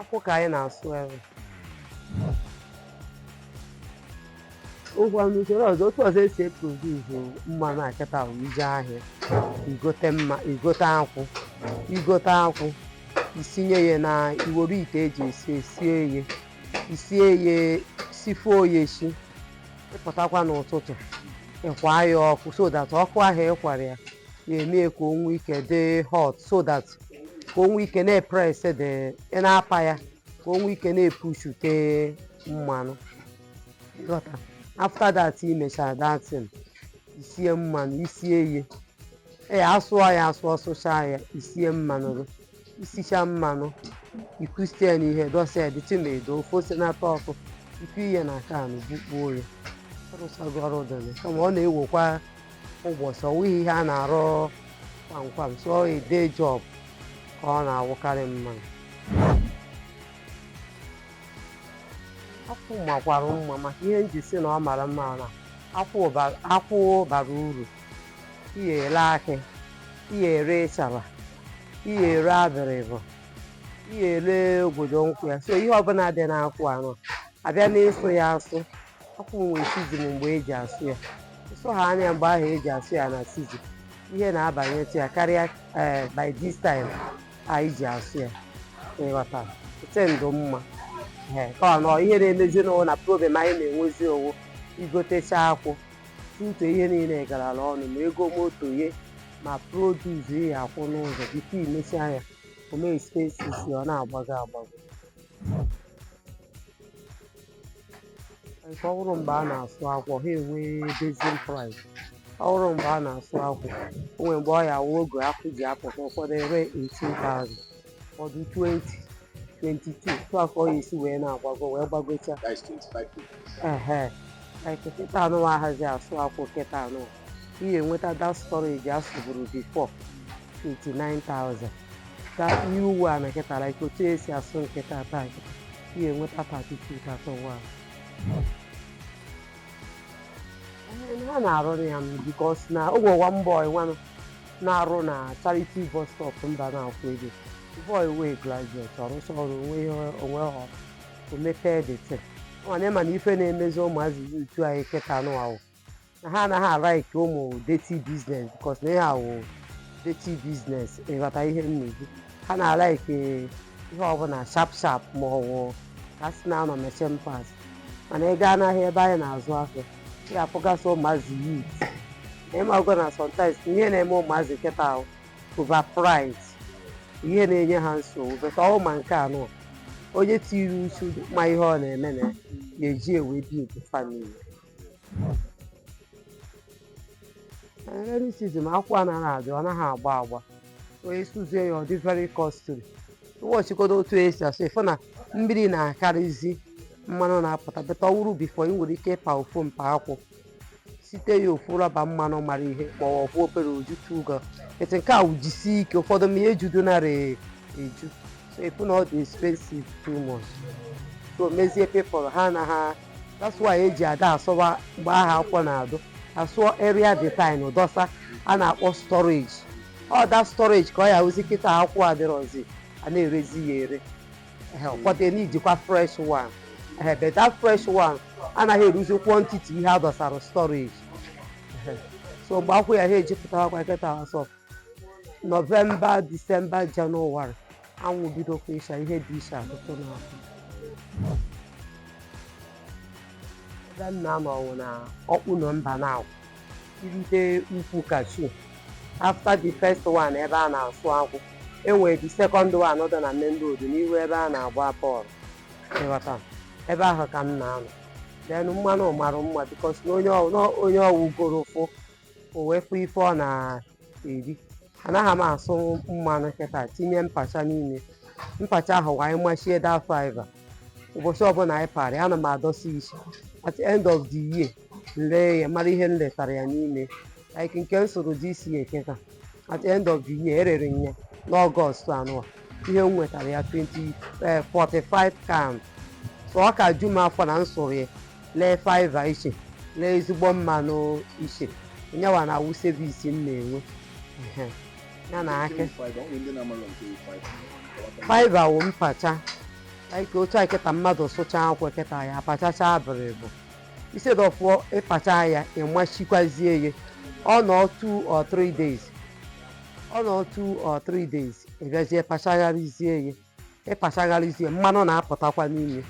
akwụ ka anyị na-asụ ebe ugbua n'usoro ọzọ otu ọzọ esi eproduzu mmanụ a kịta bụ ije ahịa igote mma igote akwụ igote akwụ isinye ya na iwere ite eji esi esie ya isie ya sifuo ya esi ịpụtakwa n'ụtụtụ ịkwa ya ọkụ so that ọkụ ahụ ịkwara ya ya emee ka o nwee ike dị hot so that ka o nwee ike na-epres dị ị na-apa ya ka o nwee ike na-epushute mmanụ gọta after that i mechara datin isie mmanụ isie ihe ee asụọ ya asụọ sụchaa ya isie mmanụ gị isicha mmanụ ikusie na ihe dọsa ya dirty ma edo ofe ose na-atọ ọkụ ikuye na can bukpuo ya ọrụsago ọrụ dịrị kama ọ na-ewekwa ụbọchị ọwụghị ihe a na-arụ kwamkwam so a day job ka ọ na-awụkarị mma akwụ makwara mma maka ihe m ji si na ọ mara mma na akwụ ba- akwụ bara uru ị ya ere akị ị ya ere ịchara ị ya ere abịrịbụ ị ya ere obodo nkwụ ya so ihe ọbụla dị n'akwụ anụ abịa n'ịsụ ya asụ akwụ nwere season mgbe eji asụ ya ịsụ ha na mgbe ahụ eji asụ ya na season ihe na-abanyetụ ya karịa ee by this time anyị ji asụ ya ịghọta ete ndụ mma ee ka ọ nọ ihe na-emezi nụ wụ na problem anyị na-enwezi ọ wụ igotecha akwụ tuto ihe niile garala ọnụ ma ego moto ye ma produce ya akwụ n'ụzọ before imecha ya ome expenses ya ọ na-agbago agbago nke ọ bụrụ mgbe a na-asụ akwụ ha enwee basin price ọ bụrụ mgbe a na-asụ akwụ o nwere mgbe ọ ya awụ oge akwụ ji apụta ụfọdụ ere 18,000 ụfọdụ 20 22 etu a ka ọ ya esi wee na-agbago wee gbagochaa That is 25 people. ehe nke kịta anụ ahazi asụ akwụ kịta anụ ị ga-enweta that storage a sụburu before 29,000 ka ihe uwe a na kịta like otu esi asụ kịta taa kịta ị ga-enweta 32,000 ha na-arụ ya m because na o nwewa mbọ nwanụ na-arụ na charity bus stop mba na-akwụ ego boy wee graduate ọrụsa ọrụ onwe ihe onwe ha o mepee dete mana ịma na ife na-emezi ụmụazị utu anyị kịta nụ awụ na ha anaghị alaiki ụmụ dirty business because na ihe a wụ dirty business ị ghọta ihe m na-ekwu ha na-alaiki ihe ọbụla sharp sharp ma ọwụ ka a sị na-anọ machine parts mana ị gaa n'ahịa ebe anyị na-azụ afịa ị ga-afụgasị ụmụazị youth ị mago na sometimes ihe na-eme ụmụazị kịta a wụ over pride ihe na-enye ha nsogbu but ọwụ ma nke anọ onye tiri uchu ma ihe ọ na-eme na ya eji ewe build family Rainy season akwụ anaghị adị ọ naghị agba agba onye sụzie ya ọ dị very costly ị bịa checkodo otu esi asụ ị fụ na mmiri na-akarịzi mmanụ na-apụta but ọ wụrụ before ị nwere ike ịpa ofu mpa akwụ sụte ya ofu rubber mmanụ mara ihe ma ọ bụ obere oju tuga etu nke a wujisie ike ụfọdụ ma ihe judo nara eju so ị fụ na ọ dị expensive too much so mezie people ha anaghị that's why eji ada asụwa mgbe aha akwụ na-adị asụọ area detinye dọsa a na-akpọ storage ọ da storage ka ọ ya wụzi kịta akwụ adịrọzi a na-erezi ya ere Ehe, ụfọdụ ya na-ejikwa fresh one Ehe, but that fresh one anaghị eruzi quantity ihe a dọsara storage Ehe. so mgbe akwụ ya ha eji pụtawakwa kịta asọ November December January anwụ bidokwa ịsha ihe dị iche atụtụ n'afọ ebe m na-anọ ọwụ na Okpuno Mbanagu i rute ukwu kashu after the first one ebe a na-asụ akwụ enwere the second one dị na main road n'ihu ebe a na-agba bọọlụ ị ghọta ebe ahụ ka m na-anọ then mmanụ mara mma because na onye ọwụ goro ụfụ o wee fụ ife ọ na eri anaghị m asụ mmanụ kịta tinye mpacha n'ime mpacha ahụ wa anyị machie that fiber ụbọchị ọbụla anyị parị ana m adọsị iche at the end of the year lee ya mara ihe m letara ya n'ime like nke m sụrụ this year kịta at the end of the year erere m ya n'August anụwa ihe m nwetara ya 20 eh, 45 can so ọ ka ju m afọ na m sụrụ ya lee fiber iche lee ezigbo mmanụ iche nyawa na-awụ savings m na-enwe Ehe. ya na akị fiber wụ mpacha like otu a kịta mmadụ sụcha akwụ kịta ya apachacha abịrịbụ instead of ịpacha ya ị machikwazie ya ọ nọ two or three days ọ nọ two or three days ị bịazie pachagharịzie ya ịpachagharizie mmanụ na-apụtakwa n'ime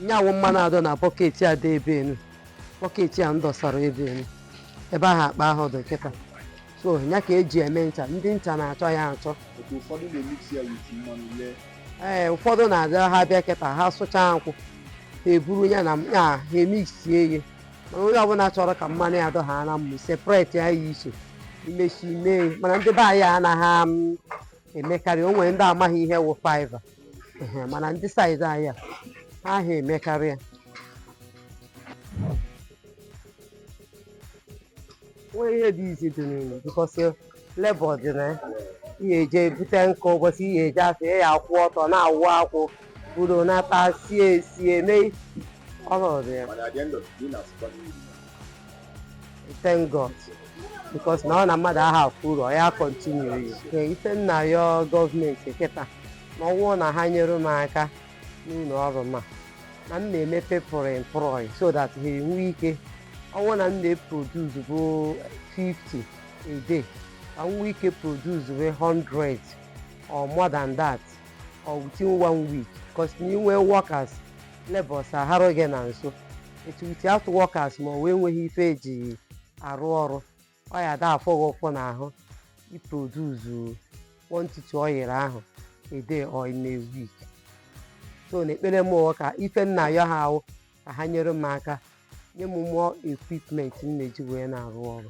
ya wụ mmanụ a dọ na bucket a dị ebe enu bucket a m dọsara ebe enu ebe ahụ akpa ahụ dị kịta so ya ka eji eme ncha ndị ncha na-achọ ya achọ Otu ụfọdụ na-emix ya with mmanụ lee ee ụfọdụ na-abịa ha bịa kịta ha sụchaa nkwụ ha eburu ya na ya ha emixie ya mana onye ọbụla chọrọ ka mmanụ ya dọha na mmụ separate ya ya iche imechi mee ya. mana ndị be anyị anaghị am- emekarị o nwere ndị amaghị ihe wụ fibre mana ndị side anyị aha emekarị ya nweghị ihe dị easy dị n'ime because labour dị na ya ihe eje ebute nkụ ụbọchị ihe eje afọ ya akwụ ọtọ na-awụ akwụ buru nata sie esie mee ọrụ dị ya thank God because na ọ na mmadụ aha afụ uru ọ ya continue ya Ee, ife m na-ayọ government kịta na ọwụ na ha nyere m aka n'ụlọ ọrụ ma na m na-eme people employ so that ha enwee ike ọwụ na m na-eproduce bụ 50 a day ka m nwee ike produce bụ 100 or more than that or within one week because na i nwee workers labours aharọ gị na nso etu without workers ma ọ wee enweghị ife eji arụ ọrụ ọ ya da afụ gị ụfụ n'ahụ iproduce quantity ọ yiri ahụ a day or in a week so na ekpere m wụ ka ife m na-ayọ ha wụ ka ha nyere m aka nye m more equipment m na-eji wee na-arụ ọrụ